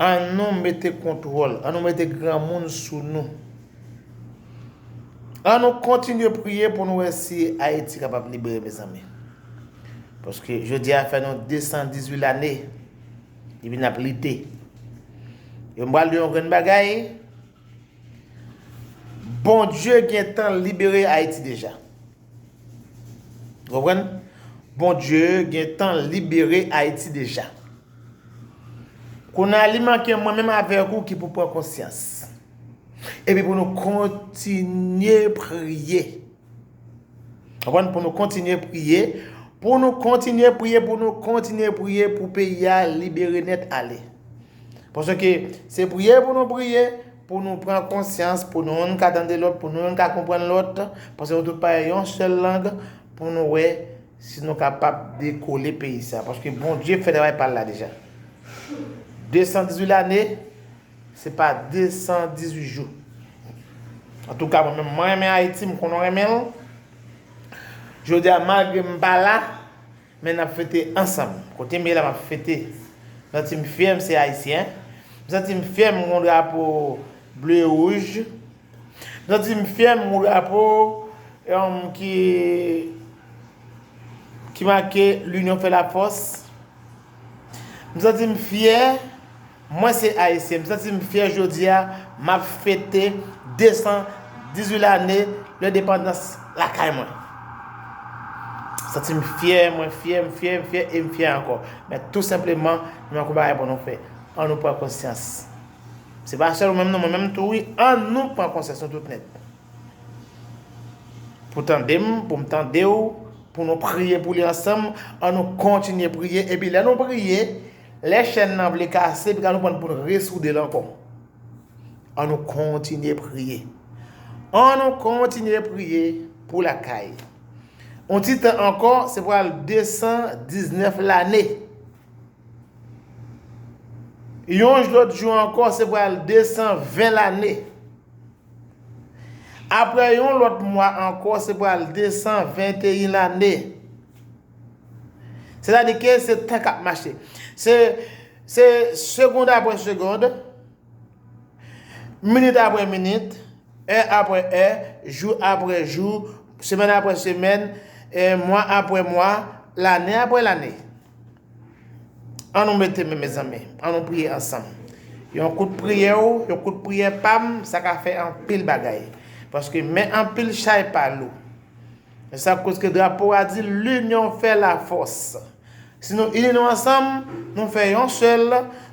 An nou mete kontwòl, an nou mete granmoun sou nou. An nou kontinye priye pou nou wè si Ayiti kapab libere mezanmi. Paske jodi a fè nou 218 lane depi nap lite. E m pral di yon grenn bagay, Bondye gentan libere Ayiti deja. Konprann? Bondye gentan libere Ayiti deja. Kounye a li manke mwen menm avèk ou ki pou pran konsyans. Epi pou nou kontinye priye. Konprann? Pou nou kontinye priye. Pou nou kontinye priye, pou nou kontinye priye pou peyi a libere nèt ale. Paske se priye pou nou priye. Pou nou pran konsyans, pou nou youn ka tande lòt, pou nou youn ka konprann lòt, paske nou tout pale yon sèl lang, pou nou wè si nou kapab dekole peyi sa. Paske Bondye fè travay pa l la deja. 218 lane, se pa 218 jou. Antouka mwen menm, mwen renmen Ayiti, m konnen w renmen l. Jodi a, malgre m pa la, Men nap fete ansanm. Kotem ye la map fete. M santi m fyè m se ayisyen. M santi m fyè m gon drapo ble e wouj. M santi m fyè m gon drapo ki ki make linyon fè lafòs. M santi m fyè. Mwen se Ayisyen, m santi m fyè jodi a, m ap fete 218 lane lendepandans lakay mwen. M santi m fyè, mwen fyè, m fyè, m fyè e m fyè ankò. Men tou senpleman, nou gen anpil bagay pou nou fè. An nou pran konsyans. Se pa sèl ou menm non, mwen menm tou wi, an nou pran konsyans nou tout nèt. Pou tande m, pou m tande ou, pou nou priye pou li ansanm, an nou kontinye priye epi lè nou priye, Lè chèn nan vle kase epi ka nou pran pou n resoude l ankò. An nou kontinye priye. An nou kontinye priye pou lakay. On ti tan ankò se pral 219 lane. Yon lòt jou ankò se pral 220 lane. Aprè yon lòt mwa ankò se pral 221 lane. Se ta di ke se tan kap mache. Se se segond apre segond, minit apre minit, è apre è, jou apre jou, semèn apre semèn, mwa apre mwa, lane apre lane. An nou mete men mezanmi, an nou priye ansanm. Yon kout priyè ou, yon kout priyè pam, sa ka fè anpil bagay. Paske men anpil chay pa lou. Se sa k koz ke drapo a di linyon fè la fòs. Si nou ini nou ansanm, nou fè yon sèl,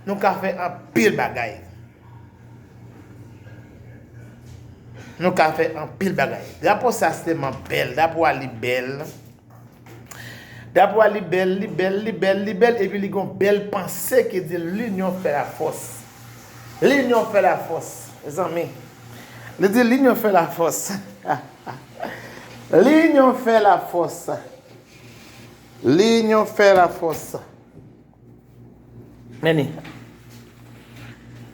nou ka fè anpil bagay. Nou ka fè anpil bagay. Drapo sa se tèlman bèl. Drapo a li bèl. Drapo a li bèl, li bèl, li bèl, li bèl. Epi li gon bèl panse ki di linyon fè la fòs. Linyon fè la fòs, zanmi. Li di linyon fè la fòs. Linyon fè la fòs. Linyon fè la fòs. Meni.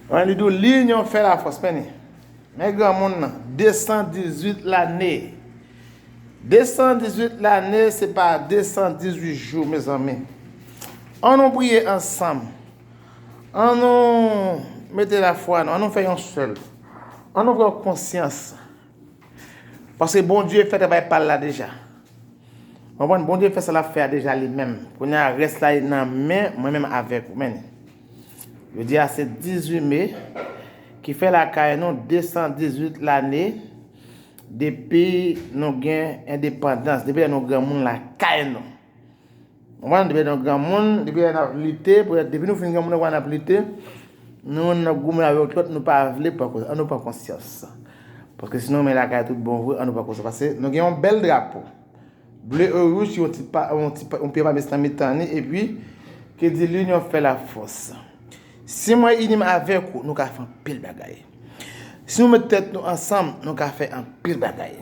Mwen li dou linyon fè la fòs. Meni. Men gran moun nan. 218 lane. 218 lane se pa 218 jou me zanmi. An nou priye ansanm. An nou mete la fwa nou. An nou fè yon sèl. An nou pran konsyans. Paske Bondye fè travay pal la deja. Konprann Bondye fè sa lap fè a deja li menm. Kounya rès la li nan men mwen menm avèk ou menn. Jodi a se 18 me ki fè lakay nou 218 lane depi nou gen endepandans, depi lè nou granmoun lakay nou. Ou konprann depi lè nou granmoun, depi lè nap lite, depi nou fin granmoun nou wè nap lite, nou menm nap goumen avèk lòt nou pa vle pran konsyans, an nou pran konsyans. Paske si nou renmen lakay tout bon vre, an nou pran konsyans pase nou gen yon bèl drapo. Ble e wouj yon ti pa, yon ti pa, yon pye pa mes nan mitan ni e pi ke di linyon fè la fòs. Si mwen inim avèk ou, nou ka fè anpil bagay. Si nou met tèt nou ansanm, nou ka fè anpil bagay.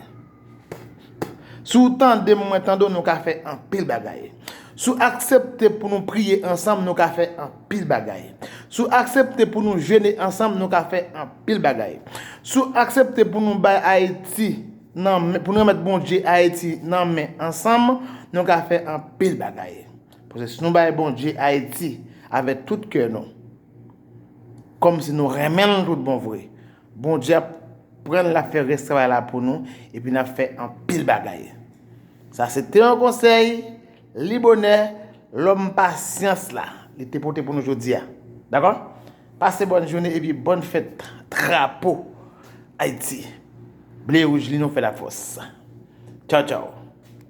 Si w tande m mwen tande w nou ka fè anpil bagay. Si w aksepte pou nou priye ansanm nou ka fè anpil bagay. Si w aksepte pou nou jene ansanm nou ka fè anpil bagay. Si w aksepte pou nou bay Ayiti nan men, pou nou remèt Bondye Ayiti nan men ansanm nou ka fè anpil bagay. Paske si nou bay Bondye Ayiti avèk tout kè nou, kòm si nou renmen l tout bon vre. Bondye ap prann lap fè rès travay la pou nou epi nap fè anpil bagay sa se te yon konsèy li bonè lòm pasyans la li te pote pou nou jodia dakò pase bòn joune epi bòn fèt trapo ayiti ble wouj li nou fè la fòs tchaw tchaw.